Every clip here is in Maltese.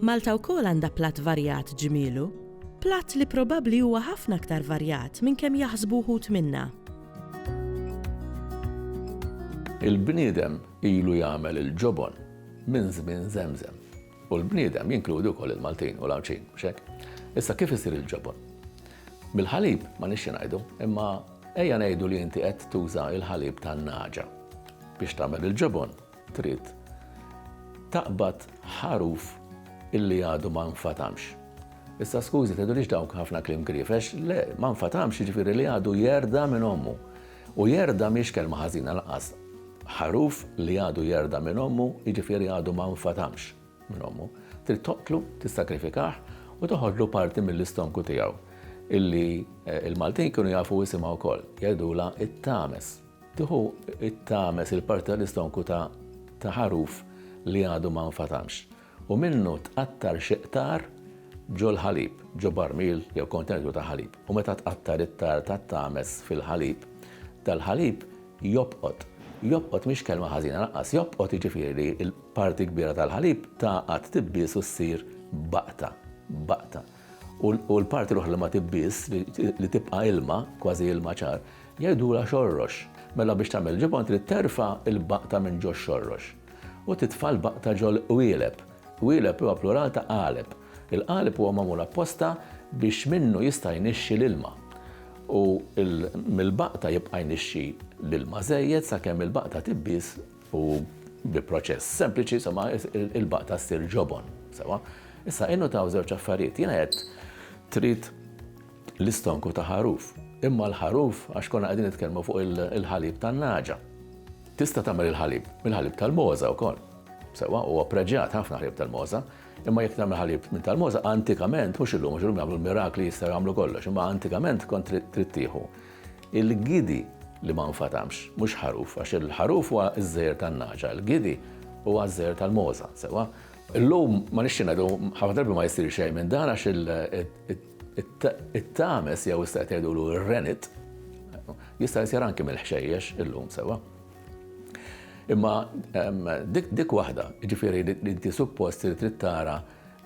Malta wkoll għandha platt varjat ġmielu, platt li probabbli huwa ħafna aktar varjat minn kemm jaħsbu wħud minna. Il-bniedem ilu jagħmel il-ġobon minn żmien żemżem. U l-bniedem jinkludi wkoll il-Maltin u l-Għawdxin, mhux hekk? Issa kif isir il-ġobon? Mill-ħalib ma nixxi ngħidu, imma ejja ngħidu li inti qed tuża l-ħalib tan-nagħġa biex tagħmel il-ġobon. trid taqbad ħaruf illi għadu ma nfatamx. Issa skużi, tgħidulix dawk ħafna klim grifex, le, ma nfatamx jiġifieri li għadu jerda minn ommu. U jerda miex kelma ħażina laqas. Ħaruf li għadu jerda minn ommu, jiġifieri għadu ma nfatamx minn ommu. Trid toqtlu, tissakrifikah u toħodlu parti mill-istonku tiegħu illi eh, il-Maltin kienu jafu jisimha wkoll, jgħidula it-tames. Tieħu t-tames, il-parti tal-istonku ta' ta' ħaruf li għadu ma nfatamx, u minnu tqattar xi qtar ġol-ħalib, ġo barmil jew kontenitur ta' ħalib, u meta tqattar it-tarr tat-tames fil-ħalib, dal-ħalib jobqot. Jobqot mhix kelma ħażina lanqas, jobqot jiġifieri l-parti kbira tal-ħalib tagħqad, tibbies u ssir baqta. Baqta. u l-parti l-oħra li ma tibbiż, li tibqa' ilma, kważi ilma ċar, jgħidulha xorrox. Mela biex tagħmel il-ġibgħa trid terfa' l-baqta minn ġox-xorrox u titfa' l-baqta ġol-qwieleb. Qwieleb huwa plural ta' qaleb. Il-qaleb huwa magħmul apposta biex minnu jista' jnixxi l-ilma. U mill-baqta jibqa' jnixxi l-ilma żejjed sakemm il-baqta tibbiż U bi proċess sempliċi, insomma, il-baqta ssir ġobon, sewa. Issa, innutaw żewġ affarijiet. Jiena qed trid l-istonku ta' ħaruf. Imma l-ħaruf, għax konna qegħdin nitkellmu fuq il-ħalib tan-naġa. Tista' tagħmel il-ħalib, il-ħalib tal-moża wkoll. Sewa, huwa preġjat ħafna ħalib tal-moża, imma jekk tagħmel ħalib minn tal-moża, antikament, mhux illum, mhux illum jagħmlu mirakli jistgħu jagħmlu kollox, imma antikament kont trid tieħu Il-gidi li ma nfatamx, mhux ħaruf, għax il-ħaruf huwa ż-żeher tan-nagħġa, il-gidi huwa ż-żeher tal-mogħża, sewwa? Illum ma nixtieq ngħidu, ħafna drabi ma jsir xejn minn dan għax it-tames jew issa qed jgħidulu r-renit jista' jsir anki mill-ħxejjex illum, sewwa? Imma dik waħda, jiġifieri li inti suppost trid tara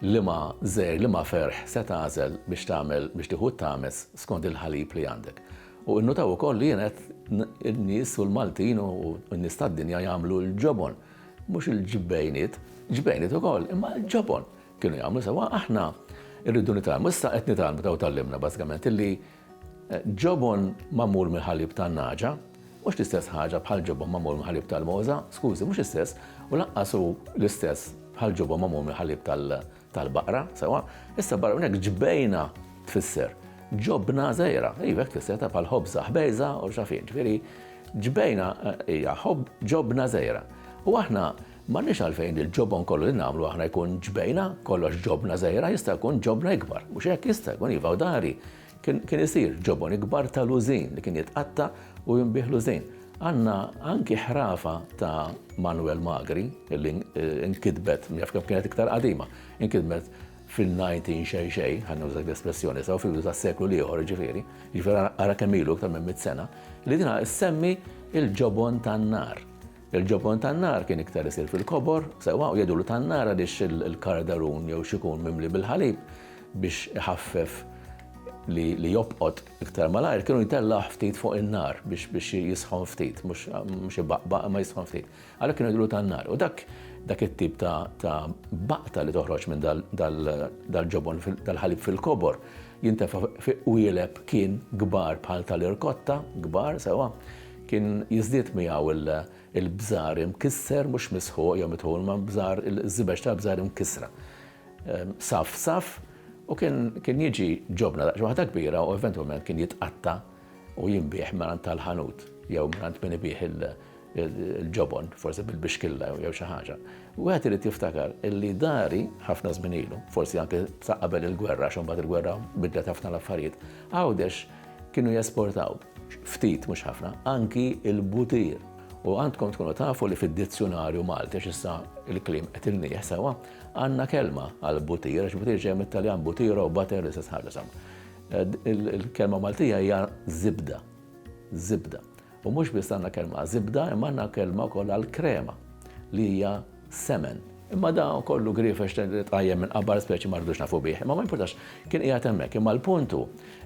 Liema żergħ, liema ferħ se tagħżel biex tagħmel biex tieħu t-tames skond il-ħalib li għandek? U innutaw ukoll li jien qed in-nies u l-Maltin u n-nies tad-dinja jagħmlu l-ġobon. Mhux il-ġbejniet, ġbejniet ukoll, imma l-ġobon kienu jagħmlu sewwa. Aħna rridu nitgħallmu, issa qed nitgħallmu daw tgħallimna bażikament illi, Ġobon magħmul mill-ħalib tan-nagħġa mhux l-istess ħaġa bħal ġobon magħmul mill-ħalib tal-mogħża, skużi, mhux l-istess, u lanqas hu l-istess bħal ġobon magħmul mill-ħalib tal-baqra, sewwa. Issa barra minn hekk ġbejna tfisser ġobna żgħira, iva hekk tfisser ta' bħal ħobża ħbejża u x'afien, ġifieri ġbejna hija ġobna żgħira. U aħna M'għandniex għalfejn il-ġobon kollu li nagħmlu aħna jkun ġbejna, kollox ġobna żgħira, jista' jkun ġobna ikbar, mhux hekk? Jista' jkun, iva, u dari kien kien isir ġobon ikbar ta' lużin li kien jitqatta' u jinbiegħ lużin. Għandna anki ħrafa ta' Manwel Magri li nkitbet, jaf kemm kienet iktar qadima, inkitbet fin-nineteen xejn xejn, ħa nuża dik l-espressjoni, sew fil-bidu tas-seklu l-ieħor jiġifieri, jiġifieri ara kemm ilu iktar minn mitt sena, li dina ssemmi l-ġobon tan-nar. Il-ġobon tan-nar kien iktar isir fil-kobor, sewwa u jgħidulu tan-nar għaliex il-kardarun jew xi jkun mimli bil-ħalib biex iħaffef li jobqot iktar malajr kienu jtellgħuh ftit fuq in-nar biex jisħon ftit, mhux ibaqbaq imma jisħon ftit. Għalhekk kienu jgħidulu tan-nar. U dak dak it-tip ta' baqta li toħroġ minn dal-ġobon tal-ħalib fil-kobor jintefa' fi qwieleb kien kbar bħal tal-irkotta, kbar, sewwa, Kien jiżdied miegħu l-bżar imkisser, mhux misħuq jew mitħul, imma bżar, iż-żibeġ tal-bżar imkissra, saff saff, u kien kien jiġi ġobna daqsxejn waħda kbira u eventwalment kien jitqatta' u jinbiegħ mingħand tal-ħanut jew mingħand min ibigħ il-ġobon, forsi bil-bixkilla jew xi ħaġa. Wieħed irid jiftakar illi dari, ħafna żmien ilu, forsi anke sa qabel il-gwerra għax imbagħad il-gwerra biddlet ħafna l-affarijiet, Għawdex kienu jesportaw. ftit mhux ħafna, anki il-butir. U għandkom tkunu tafu li fid-dizzjunarju Malti, għax issa il-klim qed ilnieh sewwa, għandna kelma għal butir, għax butir ġej mit-Taljan butiro u butter li se tħares Il-kelma Maltija hija zibda. Zibda. U mhux biss għandna kelma zibda, imma għandna kelma wkoll għal krema li hija semen. Imma da kollu griefex li tqajjem minn qabar speċi ma rridux nafu bih. Imma ma jimpurtax, kien qiegħed hemmhekk. Imma l-punt hu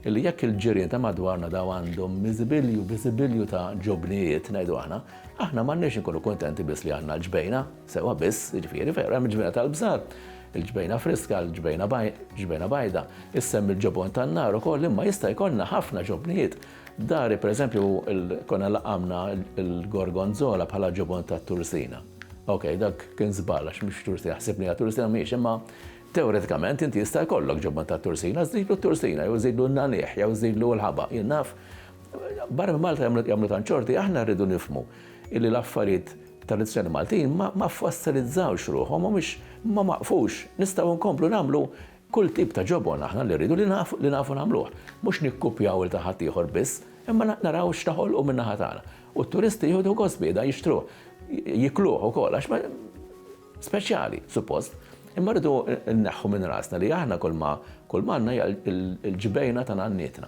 li jekk il-ġirien ta' madwarna daw għandhom miżibilju, biżibilju ta' ġobnijiet, ngħidu aħna, aħna m'għandniex inkunu kuntenti biss li għandna l-ġbejna sewwa biss, jiġifieri veru hemm il-ġbejna tal-bżar, il-ġbejna friska, il-ġbejna bajda, issemmi l-ġobon tan-nar ukoll imma jista' jkollna ħafna ġobnijiet Dari, per eżempju, konna laqamna l-gorgonzola bħala ġobon tat-tursina. Ok, dak kien żball għax mhux tursina, ħsibni hija tursina mhijiex, imma teoretikament inti jista' jkollok ġobon tat-tursina, żidlu t-tursina jew żidlu n-nagħniegħ jew żidlu l-ħaba, jien naf. Barra minn Malta jagħmlu tant xorti, aħna rridu nifhmu illi l-affarijiet tradizzjoni Maltin ma fossilizzawx ruħhom u mhux ma waqfux. Nistgħu nkomplu nagħmlu Kull tip ta' ġobon aħna li rridu li nafu nagħmluh. Mhux nikkupjaw il ta' ħaddieħor biss, imma naraw x'taħolqu min-naħa tagħna. U t-turisti jieħdu gost bih dan jixtruh, jikluh ukoll għax speċjali, suppost. Imma rridu nneħħu minn rasna li aħna kulma għandna hija l-ġbejna ta' nannietna.